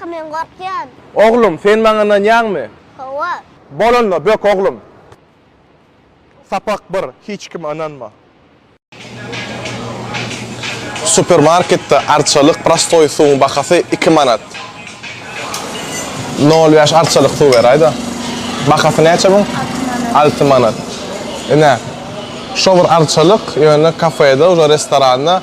Kaka men gorkýan. Oglum, sen maňa ynanýaňmy? Hawa. Bolanda bök oglum. Sapak bir, hiç kime ynanma. Supermarketde arçalyk prostoý suwuň bahasy iki manat. Nol bäş arçalyk suw beräýda. Bahasy näçe muň? Alty manat. Alty manat. Ine, şo bir arçalyk ýöne kafede, restoranna.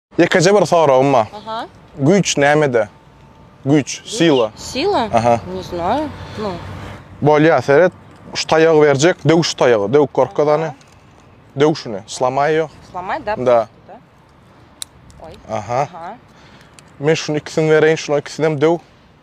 Ýekeje bir soragym bar. Aha. Güýç nämede? Güýç, sila. Sila? Aha. Ne znаю. Ну. Bolýa, seret. Şu taýagy berjek, döw şu taýagy, döw korkadany. Döw şuny, slamaý ýok. Slamaý da. Da. Aha. Aha. Men şuny ikisini bereýin, şular ikisini hem döw.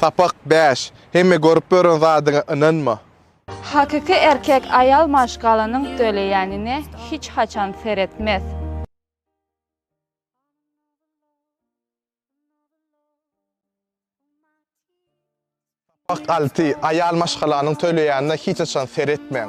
Sapak bäş, Hemme görüp ýören zadyňa ynanma. Hakyky erkek aýal maşgalanyň töleýänine hiç haçan seretmez. Fakt alty, Aýal maşgalanyň töleýänine hiç haçan seretmäň.